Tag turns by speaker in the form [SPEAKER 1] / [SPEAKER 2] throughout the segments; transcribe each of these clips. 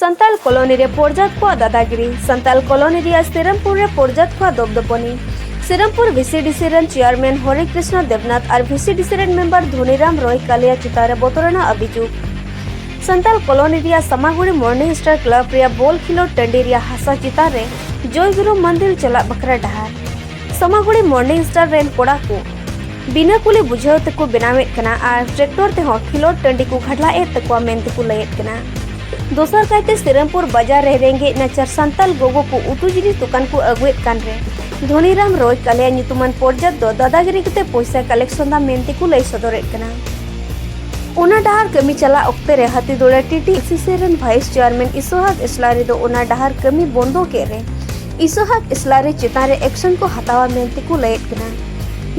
[SPEAKER 1] Santal colony ᱨᱮ ᱯᱚᱨᱡᱟᱛ ᱠᱚᱣᱟᱜ ᱫᱟᱫᱟᱜᱤᱨᱤ ᱥᱟᱱᱛᱟᱲ ᱠᱚᱞᱚᱱᱤ ᱨᱮᱭᱟᱜ ᱥᱤᱨᱟᱢᱯᱩᱨ ᱨᱮ ᱯᱚᱨᱡᱟᱛ ᱠᱚᱣᱟᱜ ᱫᱚᱯᱫᱚᱯᱚᱱᱤ ᱥᱤᱨᱟᱢᱯᱩᱨ ᱵᱷᱤᱥᱤᱰᱤᱥᱤ ᱨᱮᱱ ᱪᱮᱭᱟᱨᱢᱮᱱ ᱦᱚᱨᱮ ᱠᱨᱤᱥᱱᱟ ᱫᱮᱵᱱᱟᱛᱷ ᱟᱨ ᱵᱷᱤᱥᱤᱰᱤᱥᱤ ᱨᱮᱱ ᱢᱮᱢᱵᱟᱨ ᱫᱷᱚᱱᱤᱨᱟᱢ ᱨᱚᱭ ᱠᱟᱞᱤᱭᱟ ᱪᱮᱛᱟᱱ ᱨᱮ ᱵᱚᱛᱚᱨᱟᱱᱟᱜ ᱟᱵᱤᱡᱩᱜ ᱥᱟᱱᱛᱟᱲ ᱠᱚᱞᱚᱱᱤ ᱨᱮᱭᱟᱜ ᱥᱟᱢᱟᱜᱩᱲᱤ ᱢᱚᱨᱱᱤᱝ ᱥᱴᱟᱨ ᱠᱞᱟᱵ ᱨᱮᱭᱟᱜ ᱵᱚᱞ ᱠᱷᱮᱞᱳᱰ ᱴᱟᱺᱰᱤ ᱨᱮᱭᱟᱜ ᱦᱟᱥᱟ ᱪᱮᱛᱟᱱ ᱨᱮ ᱡᱚᱭᱜᱩᱨᱩ ᱢᱚᱱᱫᱤᱨ ᱪᱟᱞᱟᱜ ᱵᱟᱠᱷᱨᱟ ᱰᱟᱦᱟᱨ ᱥᱟᱢᱟᱜᱩᱲᱤ ᱢᱚᱨᱱᱤᱝ ᱥᱴᱟᱨ ᱨᱮᱱ ᱠᱚᱲᱟ ᱠᱚ ᱵᱤᱱᱟᱹ ᱠᱩᱞᱤ ᱵᱩᱡᱷᱟᱹᱣ ᱛᱮᱠᱚ ᱵᱮᱱᱟᱣᱮᱫ ᱠᱟᱱᱟ ᱟᱨ ᱴᱨᱮᱠᱴᱚᱨ ᱛᱮᱦᱚᱸ ᱠᱷᱮᱞᱳᱰ ᱴᱟᱺᱰᱤ ᱠᱚ ᱜᱷᱟᱰᱞᱟᱜ ᱮᱫ ᱛᱟᱠᱚᱣᱟ ᱢᱮᱱᱛᱮ ᱠᱚ ᱞᱟᱹᱭᱮᱫ ᱠᱟᱱᱟ ᱫᱚᱥᱟᱨ ᱠᱟᱭᱛᱮ ᱥᱤᱨᱟᱢᱯᱩᱨ ᱵᱟᱡᱟᱨ ᱨᱮ ᱨᱮᱸᱜᱮᱡ ᱱᱟᱪᱟᱨ ᱥᱟᱱᱛᱟᱞ ᱜᱚᱜᱚ ᱠᱚ ᱩᱛᱩ ᱡᱤᱱᱤᱥ ᱫᱚᱠᱟᱱ ᱠᱚ ᱟᱹᱜᱩᱭᱮᱫ ᱠᱟᱱ ᱨᱮ ᱫᱷᱚᱱᱤᱨᱟᱢ ᱨᱚᱭ ᱠᱟᱞᱮᱭᱟ ᱧᱩᱛᱩᱢᱟᱱ ᱯᱚᱨᱡᱟᱛ ᱫᱚ ᱫᱟᱫᱟᱜᱤᱨᱤ ᱠᱟᱛᱮ ᱯᱚᱭᱥᱟ ᱠᱟᱞᱮᱠᱥᱚᱱ ᱫᱟ ᱢᱮᱱᱛᱮ ᱠᱚ ᱞᱟᱹᱭ ᱥᱚᱫᱚᱨᱮᱫ ᱠᱟᱱᱟ ᱚᱱᱟ ᱰᱟᱦᱟᱨ ᱠᱟᱹᱢᱤ ᱪᱟᱞᱟᱜ ᱚᱠᱛᱮ ᱨᱮ ᱦᱟᱹᱛᱤ ᱫᱚᱲᱟ ᱴᱤᱴᱤ ᱥᱤᱥᱤ ᱨᱮᱱ ᱵᱷᱟᱭᱤᱥ ᱪᱮᱭᱟᱨᱢᱮᱱ ᱤᱥᱚᱦᱟᱠ ᱤᱥᱞᱟᱨᱤ ᱫᱚ ᱚᱱᱟ ᱰᱟᱦᱟᱨ ᱠᱟᱹᱢᱤ ᱵᱚᱱᱫᱚ ᱠᱮᱫ ᱨᱮ ᱤᱥᱚᱦᱟᱠ ᱤᱥᱞᱟᱨᱤ ᱪᱮᱛᱟᱱ ᱨᱮ ᱮᱠᱥᱚᱱ ᱠᱚ ᱦᱟᱛᱟᱣᱟ ᱢᱮᱱᱛᱮ ᱠᱚ ᱞᱟᱹᱭᱮᱫ ᱠᱟᱱᱟ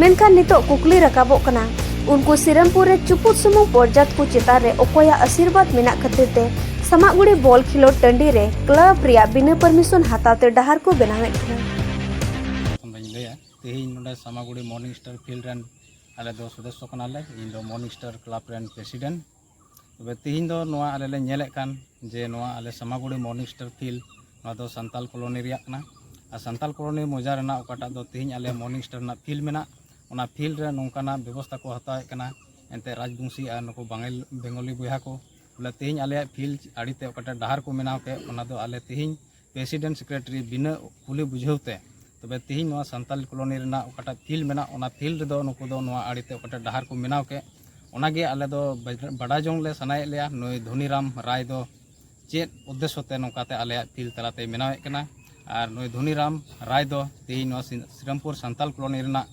[SPEAKER 1] ᱢᱮᱱᱠᱷᱟᱱ ᱱᱤᱛᱚᱜ ᱠᱩᱠᱞᱤ ᱨᱟᱠᱟᱵᱚᱜ ᱠᱟᱱᱟ ᱩᱱᱠᱩ ᱥᱤᱨᱟᱢᱯᱩᱨ ᱨᱮ ᱪᱩᱯᱩᱫ ᱥᱩᱢᱩᱝ ᱯᱚᱨᱡᱟᱛ ᱠᱚ ᱪᱮᱛᱟᱱ ᱨᱮ ᱚᱠᱚᱭᱟᱜ ᱟᱥᱤᱨᱵᱟᱫ ᱢᱮᱱᱟᱜ ᱠᱷᱟᱹᱛᱤᱨ ᱛᱮ ᱥᱟᱢᱟᱜᱩᱲᱤ ᱵᱚᱞ ᱠᱷᱮᱞᱳᱰ ᱴᱟᱺᱰᱤ ᱨᱮ ᱠᱞᱟᱵ ᱨᱮᱭᱟᱜ ᱵᱤᱱᱟᱹ ᱯᱟᱨᱢᱤᱥᱚᱱ ᱦᱟᱛᱟᱣ ᱛᱮ ᱰᱟᱦᱟᱨ ᱠᱚ ᱵᱮᱱᱟᱣᱮᱫ ᱠᱟᱱᱟ ᱚᱸᱰᱮᱧ ᱞᱟᱹᱭᱟ ᱛᱮᱦᱮᱧ ᱱᱚᱰᱮ ᱥᱟᱢᱟᱜᱩᱲᱤ ᱢᱚᱨᱱᱤᱝ ᱥᱴᱟᱨ ᱯᱷᱤᱞᱰ ᱨᱮᱱ ᱟᱞᱮ ᱫᱚ ᱥᱚᱫᱚᱥᱥᱚ ᱠᱟᱱᱟᱞᱮ ᱤᱧ ᱫᱚ ᱢᱚᱨᱱᱤᱝ ᱥᱴᱟᱨ ᱠᱞᱟᱵ ᱨᱮᱱ ᱯᱨᱮᱥᱤᱰᱮᱱᱴ ᱛᱚᱵᱮ ᱛᱤᱦᱤᱧ ᱫᱚ ᱱᱚᱣᱟ ᱟᱞᱮ ᱞᱮ ᱧᱮᱞᱮᱫ ᱠᱟᱱ ᱡᱮ ᱱᱚᱣᱟ ᱟᱞᱮ ᱥᱟᱢᱟᱜᱩᱲᱤ ᱢᱚᱨᱱᱤᱝ ᱥᱴᱟᱨ ᱯᱷᱤᱞ ᱱᱚᱣᱟ ᱫᱚ ᱥᱟᱱᱛᱟᱞ ᱠᱚᱞᱚᱱᱤ ᱨᱮᱭᱟᱜ ᱠᱟᱱᱟ ᱟᱨ ᱥᱟᱱᱛᱟᱞ ᱠᱚᱞᱚᱱᱤ ᱢᱚᱡᱟ ᱨᱮᱱᱟᱜ ᱚᱠᱟᱴᱟᱜ ᱫᱚ ᱛᱤᱦᱤᱧ ᱟᱞᱮ ᱢᱚᱨᱱᱤᱝ ᱥᱴᱟᱨ ᱨᱮᱱᱟᱜ ᱯᱷᱤᱞ ᱢᱮᱱᱟᱜ ᱚᱱᱟ ᱯᱷᱤᱞ ᱨᱮ ᱱᱚᱝᱠᱟᱱᱟᱜ ᱵᱮᱵᱚᱥᱛᱟ ᱠᱚ ᱦᱟᱛᱟᱣᱮᱫ ᱠᱟᱱᱟ ᱮᱱᱛᱮ ᱨᱟᱡᱽᱵᱚᱝᱥᱤ ᱟᱨ ᱱᱩᱠᱩ ᱵᱟᱝᱟᱞ ᱵᱮᱝᱜᱚᱞᱤ ᱵᱚᱭᱦᱟ ᱠᱚ ᱵᱚᱞᱮ ᱛᱤᱦᱤᱧ ᱟᱞᱮᱭᱟᱜ ᱯᱷᱤᱞ ᱟᱲᱮᱛᱮ ᱚᱠᱟᱴᱟᱜ ᱰᱟᱦᱟᱨ ᱠᱚ ᱵᱮᱱᱟᱣ ᱠᱮᱫ ᱚᱱᱟ ᱫᱚ ᱟᱞᱮ ᱛᱤᱦᱤᱧ ᱯᱨᱮᱥᱤᱰᱮᱱᱴ ᱥᱮᱠᱨᱮᱴᱟᱨᱤ ᱵᱤᱱᱟᱹ ᱠᱩᱞᱤ ᱵᱩᱡᱷᱟᱹᱣ ᱛᱮ ᱛᱚᱵᱮ ᱛᱮᱦᱮᱧ ᱱᱚᱣᱟ ᱥᱟᱱᱛᱟᱞ ᱠᱚᱞᱚᱱᱤ ᱨᱮᱱᱟᱜ ᱚᱠᱟᱴᱟᱜ ᱯᱷᱤᱞ ᱢᱮᱱᱟᱜ ᱚᱱᱟ ᱯᱷᱤᱞ ᱨᱮᱫᱚ ᱱᱩᱠᱩ ᱫᱚ ᱱᱚᱣᱟ ᱟᱲᱮᱛᱮ ᱚᱠᱟᱴᱟᱜ ᱰᱟᱦᱟᱨ ᱠᱚ ᱵᱮᱱᱟᱣ ᱠᱮᱫ ᱚᱱᱟᱜᱮ ᱟᱞᱮ ᱫᱚ ᱵᱟᱰᱟᱭ ᱡᱚᱝ ᱞᱮ ᱥᱟᱱᱟᱭᱮᱫ ᱞᱮᱭᱟ ᱱᱩᱭ ᱫᱷᱚᱱᱤᱨᱟᱢ ᱨᱟᱭ ᱫᱚ ᱪᱮᱫ ᱩᱫᱽᱫᱮᱥᱥᱚ ᱛᱮ ᱱᱚᱝᱠᱟᱛᱮ ᱟᱞᱮᱭᱟᱜ ᱯᱷᱤᱞ ᱛᱟᱞᱟᱛᱮ ᱵᱮᱱᱟᱣᱮᱫ ᱠᱟᱱᱟ ᱟᱨ ᱱᱩᱭ ᱫᱷᱚᱱᱤᱨᱟᱢ ᱨᱟᱭ ᱫᱚ ᱛᱮᱦᱮᱧ ᱱᱚᱣᱟ ᱥᱨᱤᱨᱟᱢᱯᱩᱨ ᱥᱟᱱᱛᱟᱞ ᱠᱚᱞᱚᱱᱤ ᱨᱮᱱᱟᱜ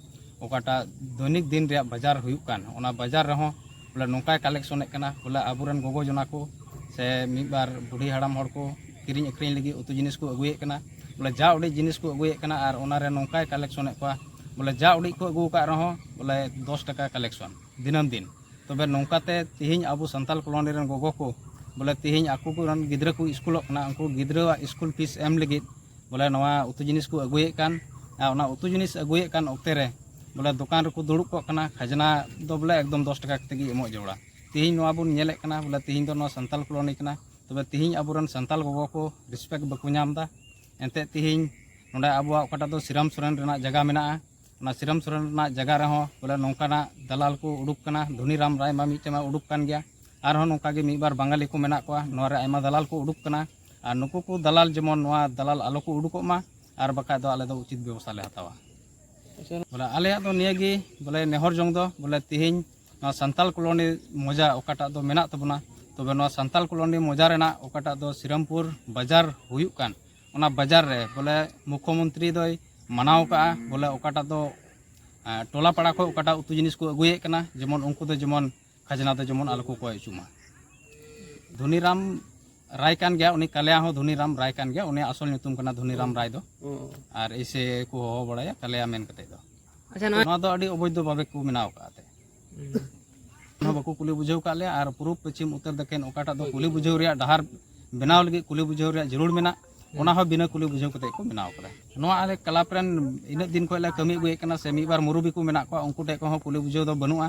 [SPEAKER 1] ᱚᱠᱟᱴᱟᱜ ᱫᱚᱭᱱᱤᱠ ᱫᱤᱱ ᱨᱮᱭᱟᱜ ᱵᱟᱡᱟᱨ ᱦᱩᱭᱩᱜ ᱠᱟᱱ ᱚᱱᱟ ᱵᱟᱡᱟᱨ ᱨᱮᱦᱚᱸ ᱵᱚᱞᱮ ᱱᱚᱝᱠᱟᱭ ᱠᱟᱞᱮᱠᱥᱚᱱᱮᱫ ᱠᱟᱱᱟ ᱵᱚᱞᱮ ᱟᱵᱚᱨᱮᱱ ᱜᱚᱜᱚ ᱡᱚᱱᱟ ᱠᱚ ᱥᱮ ᱢᱤᱫ ᱵᱟᱨ ᱵᱩᱰᱷᱤ ᱦᱟᱲᱟᱢ ᱦᱚᱲ ᱠᱚ ᱠᱤᱨᱤᱧ ᱟᱹᱠᱷᱨᱤᱧ ᱞᱟᱹᱜᱤᱫ ᱩᱛᱩ ᱡᱤᱱᱤᱥ ᱠᱚ ᱟᱹᱜᱩᱭᱮᱫ ᱠᱟᱱᱟ ᱵᱚᱞᱮ ᱡᱟ ᱩᱰᱤᱡ ᱡᱤᱱᱤᱥ ᱠᱚ ᱟᱹᱜᱩᱭᱮᱫ ᱠᱟᱱᱟ ᱟᱨ ᱚᱱᱟᱨᱮ ᱱᱚᱝᱠᱟᱭ ᱠᱟᱞᱮᱠᱥᱚᱱᱮᱫ ᱠᱚᱣᱟ ᱵᱚᱞᱮ ᱡᱟ ᱩᱰᱤᱡ ᱠᱚ ᱟᱹᱜᱩ ᱟᱠᱟᱫ ᱨᱮᱦᱚᱸ ᱵᱚᱞᱮ ᱫᱚᱥ ᱴᱟᱠᱟ ᱠᱟᱞᱮᱠᱥᱚᱱ ᱫᱤᱱᱟᱹᱢ ᱫᱤᱱ ᱛᱚᱵᱮ ᱱᱚᱝᱠᱟᱛᱮ ᱛᱮᱦᱮᱧ ᱟᱵᱚ ᱥᱟᱱᱛᱟᱞ ᱠᱚᱞᱚᱱᱤ ᱨᱮᱱ ᱜᱚᱜᱚ ᱠᱚ ᱵᱚᱞᱮ ᱛᱮᱦᱮᱧ ᱟᱠᱚ ᱠᱚᱨᱮᱱ ᱜᱤᱫᱽᱨᱟᱹ ᱠᱚ ᱥᱠᱩᱞᱚᱜ ᱠᱟᱱᱟ ᱩᱱᱠᱩ ᱜᱤᱫᱽᱨᱟᱹᱣᱟᱜ ᱥᱠᱩᱞ ᱯᱷᱤᱥ ᱮᱢ ᱞᱟᱹᱜᱤᱫ ᱵᱚᱞᱮ ᱱᱚᱣᱟ ᱩᱛᱩ ᱡᱤᱱᱤᱥ ᱠᱚ ᱟᱹᱜᱩᱭᱮᱫ ᱠᱟᱱ ᱟᱨ ᱚᱱᱟ ᱩᱛᱩ ᱡᱤᱱᱤᱥ ᱟᱹᱜᱩᱭᱮᱫ ᱠᱟᱱ ᱚᱠᱛᱮ ᱨᱮ ᱵᱚᱞᱮ ᱫᱚᱠᱟᱱ ᱨᱮᱠᱚ ᱫᱩᱲᱩᱵ ᱠᱚᱜ ᱠᱟᱱᱟ ᱠᱷᱟᱡᱽᱱᱟ ᱫᱚ ᱵᱚᱞᱮ ᱮᱠᱫᱚᱢ ᱫᱚᱥ ᱴᱟᱠᱟ ᱠᱟᱛᱮ ᱜᱮ ᱮᱢᱚᱜ ᱡᱟᱹᱨᱩᱲᱟ ᱛᱮᱦᱮᱧ ᱱᱚᱣᱟ ᱵᱚᱱ ᱧᱮᱞᱮᱫ ᱠᱟᱱᱟ ᱵᱚᱞᱮ ᱛᱮᱦᱮᱧ ᱫᱚ ᱱᱚᱣᱟ ᱥᱟᱱᱛᱟᱲ ᱠᱚᱞᱳᱱᱤ ᱠᱟᱱᱟ ᱛᱚᱵᱮ ᱛᱮᱦᱮᱧ ᱟᱵᱚᱨᱮᱱ ᱥᱟᱱᱛᱟᱲ ᱜᱚᱜᱚ ᱠᱚ ᱨᱮᱥᱯᱮᱠᱴ ᱵᱟᱠᱚ ᱧᱟᱢ ᱮᱫᱟ ᱮᱱᱛᱮᱫ ᱛᱮᱦᱮᱧ ᱱᱚᱰᱮ ᱟᱵᱚᱣᱟᱜ ᱚᱠᱟᱴᱟᱜ ᱫᱚ ᱥᱨᱤᱨᱟᱢ ᱥᱚᱨᱮᱱ ᱨᱮᱱᱟᱜ ᱡᱟᱭᱜᱟ ᱢᱮᱱᱟᱜᱼᱟ ᱚᱱᱟ ᱥᱨᱤᱨᱟᱢ ᱥᱚᱨᱮᱱ ᱨᱮᱱᱟᱜ ᱡᱟᱭᱜᱟ ᱨᱮᱦᱚᱸ ᱵᱚᱞᱮ ᱱᱚᱝᱠᱟᱱᱟᱜ ᱫᱟᱞᱟᱞ ᱠᱚ ᱩᱰᱩᱠ ᱠᱟᱱᱟ ᱫᱷᱚᱱᱤᱨᱟᱢ ᱨᱟᱭ ᱢᱟ ᱢᱤᱫᱴᱮᱱ ᱢᱟ ᱩᱰᱩᱠ ᱠᱟᱱ ᱜᱮᱭᱟ ᱟᱨᱦᱚᱸ ᱱᱚᱝᱠᱟ ᱜᱮ ᱢᱤᱫ ᱵᱟᱨ ᱵᱟᱝᱜᱟᱞᱤ ᱠᱚ ᱢᱮᱱᱟᱜ ᱠᱚᱣᱟ ᱱᱚᱣᱟ ᱨᱮ ᱟᱭᱢᱟ ᱫᱟᱞᱟᱞ ᱠᱚ ᱩᱰᱩᱠ ᱠᱟᱱᱟ ᱟᱨ ᱱᱩᱠᱩ ᱠᱚ ᱫᱟᱞᱟᱞ ᱡᱮᱢᱚᱱ ᱱᱚᱣᱟ ᱫᱟᱞᱟᱞ ᱟᱞᱚ ᱠᱚ ᱩᱰᱩᱠᱚᱜ ᱢᱟ ᱟᱨ ᱵᱟᱠᱷᱟᱡ ᱫᱚ ᱟᱞᱮ ᱫᱚ ᱩᱪᱤᱛ ᱵᱮᱵᱚᱥᱛᱷᱟ ᱞᱮ ᱦᱟᱛᱟᱣᱟ ᱵᱚᱞᱮ ᱟᱞᱮᱭᱟᱜ ᱫᱚ ᱱᱤᱭᱟᱹ ᱜᱮ ᱵᱚᱞᱮ ᱱᱮᱦᱚᱨ ᱡᱚᱝ ᱫᱚ ᱵᱚᱞᱮ ᱛᱮᱦᱮᱧ ᱱᱚᱣᱟ ᱥᱟᱱᱛᱟᱞ ᱠᱚᱞᱚᱱᱤ ᱢᱚᱡᱟ ᱚᱠᱟᱴᱟᱜ ᱫᱚ ᱢᱮᱱᱟᱜ ᱛᱟᱵᱚᱱᱟ ᱛᱚᱵᱮ ᱱᱚᱣᱟ ᱥᱟᱱᱛᱟᱞ ᱠᱚᱞᱚᱱᱤ ᱢᱚᱡᱟ ᱨᱮᱱᱟᱜ ᱚᱠᱟᱴᱟᱜ ᱫᱚ ᱥᱨᱤᱨᱟᱢᱯᱩᱨ ᱵᱟᱡᱟᱨ ᱦᱩᱭᱩᱜ ᱠᱟᱱ ᱚᱱᱟ ᱵᱟᱡᱟᱨ ᱨᱮ ᱵᱚᱞᱮ ᱢᱩᱠᱷᱚᱢᱚᱱᱛᱨᱤ ᱫᱚᱭ ᱢᱟᱱᱟᱣ ᱠᱟᱜᱼᱟ ᱵᱚᱞᱮ ᱚᱠᱟᱴᱟᱜ ᱫᱚ ᱴᱚᱞᱟ ᱯᱟᱲᱟ ᱠᱷᱚᱱ ᱚᱠᱟᱴᱟᱜ ᱩᱛᱩ ᱡᱤᱱᱤᱥ ᱠᱚ ᱟᱹᱜᱩᱭᱮᱫ ᱠᱟᱱᱟ ᱡᱮᱢᱚᱱ ᱩᱱᱠᱩ ᱫᱚ ᱡᱮᱢᱚᱱ ᱠᱷᱟᱡᱽᱱᱟ ᱫᱚ ᱡᱮᱢᱚᱱ ᱟᱞᱚ ᱠᱚ ᱠᱚᱭ ᱦᱚᱪᱚ ᱢᱟ ᱫᱷᱚᱱᱤᱨᱟᱢ ᱨᱟᱭ ᱠᱟᱱ ᱜᱮᱭᱟ ᱩᱱᱤ ᱠᱟᱞᱮᱭᱟ ᱦᱚᱸ ᱫᱷᱚᱱᱤᱨᱟᱢ ᱨᱟᱭ ᱠᱟᱱ ᱜᱮᱭᱟ ᱩᱱᱤᱭᱟᱜ ᱟᱥᱚᱞ ᱧᱩᱛᱩᱢ ᱠᱟᱱᱟ ᱫᱷᱚᱱᱤᱨᱟᱢ ᱨᱟᱭ ᱫᱚ ᱟᱨ ᱮᱭᱥᱮ ᱠᱚ ᱦᱚᱦᱚ ᱵᱟᱲᱟᱭᱟ ᱠᱟᱞᱮᱭᱟ ᱢᱮᱱ ᱠᱟᱛᱮ ᱫᱚ ᱟᱪᱪᱷᱟ ᱱᱚᱣᱟ ᱱᱚᱣᱟ ᱫᱚ ᱟᱹᱰᱤ ᱚᱵᱚᱭᱫᱷᱚ ᱵᱷᱟᱵᱮ ᱠᱚ ᱵᱮᱱᱟᱣ ᱟᱠᱟᱫ ᱛᱮ ᱦᱚᱸ ᱵᱟᱠᱚ ᱠᱩᱞᱤ ᱵᱩᱡᱷᱟᱹᱣ ᱠᱟᱜ ᱞᱮᱭᱟ ᱟᱨ ᱯᱩᱨᱩᱵ ᱯᱚᱪᱷᱤᱢ ᱩᱛᱛᱚᱨ ᱫᱚᱠᱷᱤᱱ ᱚᱠᱟᱴᱟᱜ ᱫᱚ ᱠᱩᱞᱤ ᱵᱩᱡᱷᱟᱹᱣ ᱨᱮᱭᱟᱜ ᱰᱟᱦᱟᱨ ᱵᱮᱱᱟᱣ ᱞᱟᱹᱜᱤᱫ ᱠᱩᱞᱤ ᱵᱩᱡᱷᱟᱹᱣ ᱨᱮᱭᱟᱜ ᱡᱟᱹᱨᱩᱲ ᱢᱮᱱᱟᱜ ᱚᱱᱟ ᱦᱚᱸ ᱵᱤᱱᱟᱹ ᱠᱩᱞᱤ ᱵᱩᱡᱷᱟᱹᱣ ᱠᱟᱛᱮ ᱠᱚ ᱵᱮᱱᱟᱣ ᱠᱟᱫᱟ ᱱᱚᱣᱟ ᱟᱞᱮ ᱠᱞᱟᱵᱽ ᱨᱮᱱ ᱤᱱᱟᱹᱜ ᱫᱤᱱ ᱠᱷᱚᱱ ᱞᱮ ᱠᱟᱹᱢᱤ ᱟᱹᱜᱩᱭᱮᱫ ᱠᱟᱱᱟ ᱥᱮ ᱢᱤᱫ ᱵᱟᱨ ᱢᱩᱨᱩᱵᱤ ᱠᱚ ᱢᱮᱱᱟᱜ ᱠᱚᱣᱟ ᱩᱱᱠᱩ ᱴᱷᱮᱱ ᱠᱷᱚᱱ ᱦᱚᱸ ᱠᱩᱞᱤ ᱵᱩᱡᱷᱟᱹᱣ ᱫᱚ ᱵᱟᱹᱱᱩᱜᱼᱟ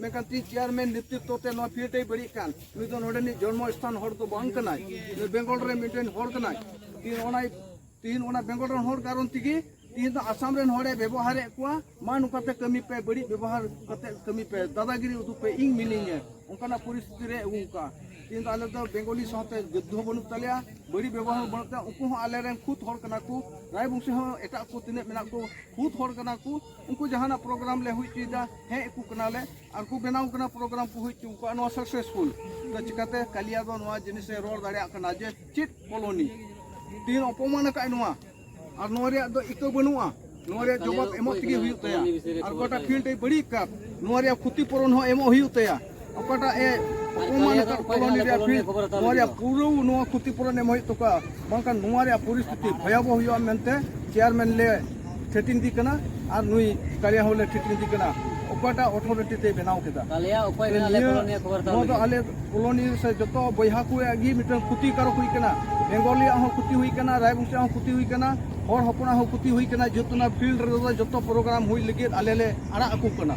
[SPEAKER 1] ᱢᱮᱱᱠᱷᱟᱱ ᱛᱤᱦᱤᱧ ᱪᱮᱭᱟᱨᱢᱮᱱ ᱱᱮᱛᱨᱤᱛᱛᱚ ᱛᱮ ᱱᱚᱣᱟ ᱯᱷᱤᱞᱰ ᱮ ᱵᱟᱹᱲᱤᱡ ᱠᱟᱱ ᱱᱩᱭ ᱫᱚ ᱱᱚᱰᱮᱱᱤᱡ ᱡᱚᱱᱢᱚ ᱥᱛᱷᱟᱱ ᱦᱚᱲ ᱫᱚ ᱵᱟᱝ ᱠᱟᱱᱟᱭ ᱱᱩᱭ ᱵᱮᱝᱜᱚᱞ ᱨᱮ ᱢᱤᱫᱴᱮᱱ ᱦᱚᱲ ᱠᱟᱱᱟᱭ ᱛᱤᱦᱤᱧ ᱚᱱᱟ ᱛᱤᱦᱤᱧ ᱚᱱᱟ ᱵᱮᱝᱜᱚᱞ ᱨᱮᱱ ᱦᱚᱲ ᱠᱟᱨᱚᱱ ᱛᱮᱜᱮ ᱛᱤᱦᱤᱧ ᱫᱚ ᱟᱥᱟᱢ ᱨᱮᱱ ᱦᱚᱲᱮ ᱵᱮᱵᱚᱦᱟᱨᱮᱫ ᱠᱚᱣᱟ ᱢᱟ ᱱᱚᱝᱠᱟᱛᱮ ᱠᱟᱹᱢᱤ ᱯᱮ ᱵᱟᱹᱲᱤᱡ ᱵᱮᱵᱚᱦᱟᱨ ᱠᱟᱛᱮ ᱠᱟᱹᱢᱤ ᱯᱮ ᱫᱟᱫᱟᱜᱤᱨᱤ ᱩᱫᱩᱜ ᱯᱮ ᱤᱧ ᱢᱤᱱᱟᱹᱧᱟ ᱚᱱᱠᱟᱱᱟᱜ ᱯᱚᱨᱤᱥᱛᱷᱤᱛᱤ ᱨᱮ ᱟᱹᱜᱩ ᱠᱟᱜᱼᱟ ᱛᱤᱦᱤᱧ ᱫᱚ ᱟᱞᱮ ᱫᱚ ᱵᱮᱝᱜᱚᱞᱤ ᱥᱟᱶᱛᱮ ᱡᱩᱫᱽᱫᱷᱚ ᱦᱚᱸ ᱵᱟᱹᱱᱩᱜ ᱛᱟᱞᱮᱭᱟ ᱵᱟᱹᱲᱤᱡ ᱵᱮᱵᱚᱦᱟᱨ ᱦᱚᱸ ᱵᱟᱹᱱᱩᱜ ᱛᱟᱞᱮᱭᱟ ᱩᱱᱠᱩ ᱦᱚᱸ ᱟᱞᱮᱨᱮᱱ ᱠᱷᱩᱫ ᱦᱚᱲ ᱠᱟᱱᱟ ᱠᱚ ᱨᱟᱭᱵᱚᱝᱥᱤ ᱦᱚᱸ ᱮᱴᱟᱜ ᱠᱚ ᱛᱤᱱᱟᱹᱜ ᱢᱮᱱᱟᱜ ᱠᱚ ᱠᱷᱩᱫ ᱦᱚᱲ ᱠᱟᱱᱟ ᱠᱚ ᱩᱱᱠᱩ ᱡᱟᱦᱟᱱᱟᱜ ᱯᱨᱳᱜᱨᱟᱢ ᱞᱮ ᱦᱩᱭ ᱦᱚᱪᱚᱭᱮᱫᱟ ᱦᱮᱡ ᱟᱠᱚ ᱠᱟᱱᱟᱞᱮ ᱟᱨ ᱠᱚ ᱵᱮᱱᱟᱣ ᱠᱟᱱᱟ ᱯᱨᱳᱜᱨᱟᱢ ᱠᱚ ᱦᱩᱭ ᱦᱚᱪᱚ ᱠᱚᱣᱟ ᱱᱚᱣᱟ ᱥᱟᱠᱥᱮᱥᱯᱷᱩᱞ ᱛᱚ ᱪᱤᱠᱟᱛᱮ ᱠᱟᱞᱤᱭᱟ ᱫᱚ ᱱᱚᱣᱟ ᱡᱤᱱᱤᱥᱮ ᱨᱚᱲ ᱫᱟᱲᱮᱭᱟᱜ ᱠᱟᱱᱟ ᱡᱮ ᱪᱮᱫ ᱠᱚᱞᱚᱱᱤ ᱛᱤᱱ ᱚᱯᱚᱢᱟᱱ ᱟᱠᱟᱫ ᱱᱚᱣᱟ ᱟᱨ ᱱᱚᱣᱟ ᱨᱮᱭᱟᱜ ᱫᱚ ᱤᱠᱟᱹ ᱵᱟᱹᱱᱩᱜᱼᱟ ᱱᱚᱣᱟ ᱨᱮᱭᱟᱜ ᱡᱚᱵᱟᱵ ᱮᱢᱚᱜ ᱛᱮᱜᱮ ᱦᱩᱭᱩᱜ ᱛᱟᱭᱟ ᱟᱨ ᱜᱚᱴᱟ ᱯᱷᱤᱞᱰ ᱮ ᱵᱟᱹᱲᱤᱡ ᱟᱠᱟᱫ ᱱᱚᱣᱟ ᱨᱮᱭᱟᱜ ᱠᱷᱚᱛᱤᱯᱩᱨᱚᱱ ᱦᱚᱸ ᱮᱢᱚᱜ ᱦᱩᱭᱩᱜ ᱛᱟᱭᱟ ᱚᱠᱟᱴᱟᱜ ᱮ ᱚᱯᱚᱢᱟᱱ ᱟᱠᱟᱫ ᱠᱚᱞᱚᱱᱤ ᱨᱮᱭᱟᱜ ᱯᱷᱤᱞᱰ ᱱᱚᱣᱟ ᱨᱮᱭᱟᱜ ᱯᱩᱨᱟᱹ ᱱᱚᱣᱟ ᱠᱷᱚᱛᱤᱯᱩᱨᱚᱱ ᱮᱢ ᱦᱩᱭᱩᱜ ᱛᱟᱠᱚᱣᱟ ᱵᱟᱝᱠᱷᱟᱱ ᱱᱚᱣᱟ ᱨᱮᱭᱟᱜ ᱯᱚᱨᱤᱥᱛᱷᱤᱛᱤ ᱵᱷᱚᱭᱟᱵᱚᱦ ᱦᱩᱭᱩᱜᱼᱟ ᱢᱮᱱᱛᱮ ᱪᱮᱭᱟᱨᱢᱮᱱ ᱞᱮ ᱴᱷᱮᱴᱤᱝ ᱤᱫᱤ ᱠᱟᱱᱟ ᱟᱨ ᱱᱩᱭ ᱠᱟᱞᱤᱭᱟ ᱦᱚᱸᱞᱮ ᱴᱷᱮᱴᱤᱝ ᱤᱫᱤ ᱠᱟᱱᱟ ᱚᱠᱟᱴᱟᱜ ᱚᱛᱷᱚᱨᱤᱴᱤ ᱛᱮ ᱵᱮᱱᱟᱣ ᱠᱮᱫᱟ ᱱᱚᱣᱟ ᱫᱚ ᱟᱞᱮ ᱠᱚᱞᱚᱱᱤ ᱥᱮ ᱡᱚᱛᱚ ᱵᱚᱭᱦᱟ ᱠᱚᱣᱟᱜ ᱜᱮ ᱢᱤᱫᱴᱟᱝ ᱠᱷᱚᱛᱤᱠᱟᱨᱚᱠ ᱦᱩᱭ ᱠᱟᱱᱟ ᱵᱮᱝᱜᱚᱞᱤᱭᱟᱜ ᱦᱚᱸ ᱠᱷᱚᱛᱤ ᱦᱩᱭ ᱠᱟᱱᱟ ᱨᱟᱭᱵᱚᱝᱥᱤ ᱦᱚᱸ ᱠᱷᱚᱛᱤ ᱦᱩᱭ ᱠᱟᱱᱟ ᱦᱚᱲ ᱦᱚᱯᱚᱱᱟᱜ ᱦᱚᱸ ᱠᱷᱚᱛᱤ ᱦᱩᱭ ᱠᱟᱱᱟ ᱡᱮᱦᱮᱛᱩ ᱚᱱᱟ ᱯᱷᱤᱞᱰ ᱨᱮᱫᱚ ᱡᱚᱛᱚ ᱯᱨᱳᱜᱨᱟᱢ ᱦᱩᱭ ᱞᱟᱹᱜᱤᱫ ᱟᱞᱮ ᱞᱮ ᱟᱲᱟᱜ ᱟᱠᱚ ᱠᱟᱱᱟ